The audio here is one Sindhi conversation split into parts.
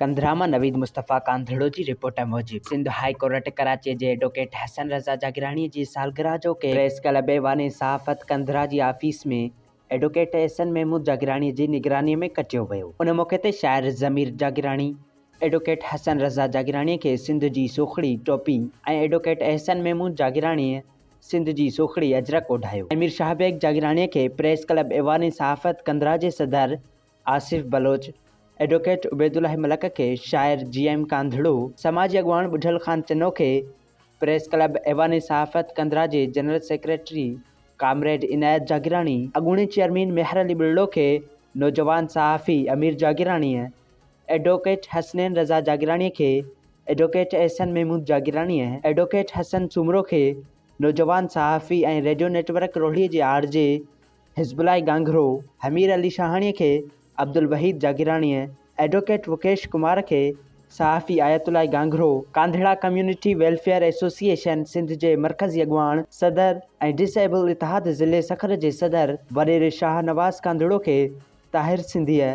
ڪنڌرامه، نويد مصطفيٰ ڪانڌڙو جي رپورٽ موجب، سنڌ هاء ڪورٽ ڪراچيء جي ايڊووڪيٽ حسن رضا جاگيراڻيء جي سالگرهه جو ڪيڪ پريس ڪلب ايوان صحافت ڪنڌرا جي آفيس ۾ ايڊووڪيٽ احسن محمود جاگيراڻيء جي نگرانيء ۾ ڪٽيو ويو. ان موقعي تي شاعر ضمير جاگيراڻي، ايڊووڪيٽ حسن رضا جاگيراڻيء کي سنڌ جي سوکڙي ٽوپي ۽ ايڊووڪيٽ احسن محمود جاگيراڻيء سنڌ جي سوکڙي اجرڪ اوڍايو ۽ مير شاهه بيگ جاگيراڻيء کي پريس ڪلب ايوان صحافت ڪندرا جي صدر آصف بلوچ، ايڊوڪيٽ عبيدالله ملڪ کي شاعر جي ايم ڪانڌڙو، سماجي اڳواڻ ٻڍل خان چنو کي پريس ڪلب ايوان صحافت ڪندرا جي general secretary comrade Inayat Jagirani, اڳوڻي چيئرمين ميهر علي ٻرڙو کي نوجوان صحافي امير جاگيراڻيء، ايڊووڪيٽ حسنين رضا جاگيراڻيء کي ايڊووڪيٽ احسن محمود جاگيراڻيء، ايڊووڪيٽ حسن سومرو کي نوجوان صحافي ۽ ريڊيو نيٽ ورڪ روهڙيء جي آر جي، حزب الله گانگهرو، حمير علي شاهاڻيء کي عبدالوحيد جاگيراڻيء، ايڊووڪيٽ وڪيش ڪمار کي صحافي Ayatullah Ganghro, Kandhra community welfare association Sindh جي مرڪزي اڳواڻ، صدر ۽ ڊس ايبل اتحاد ضلعي سکر جي صدر وڏيري شاهه نواز ڪانڌڙو کي طاهر سنڌيء،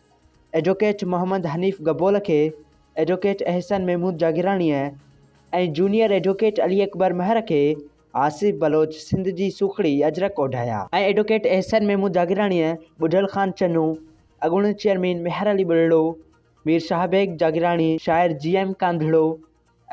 ايڊووڪيٽ محمد حنيف گبول کي ايڊووڪيٽ احسن محمود جاگيراڻيء ۽ جونيئر ايڊووڪيٽ علي اڪبر مهر کي آصف بلوچ سنڌ جي سوکڙي اجرڪ اوڍايا. ۽ ايڊووڪيٽ احسن محمود جاگيراڻيء ٻڍل خان چنو، اڳوڻي چيئرمين ميهر علي ٻرڙو، مير شاهه بيگ جاگيراڻي، شاعر G M Kandhro,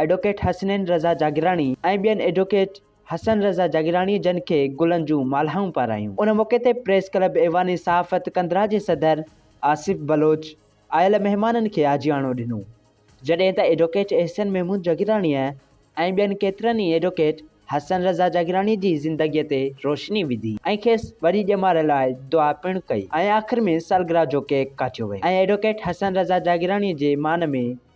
advocate Hasnain Raza Jagirani ۽ ٻين ايڊووڪيٽ حسن رضا جاگيراڻي جن کي گلن جون مالهائون پارايون. ان موقعي تي پريس ڪلب ايوان صحافت ڪنڌرا جي صدر آصف بلوچ آيل مهمانن کي آجياڻو ڏنو، جڏهن ته ايڊووڪيٽ احسن محمود جاگيراڻيء ۽ ٻين ڪيترن ئي ايڊووڪيٽ حسن رضا جاگيراڻي جي زندگيء تي روشني وڌي ۽ کيس وڏي ڄمار لاء دعا پڻ ڪئي ۽ آخر ۾ سالگرهه جو ڪيڪ ڪاٽيو ويو ۽ ايڊووڪيٽ حسن رضا جاگيراڻيء جي مان ۾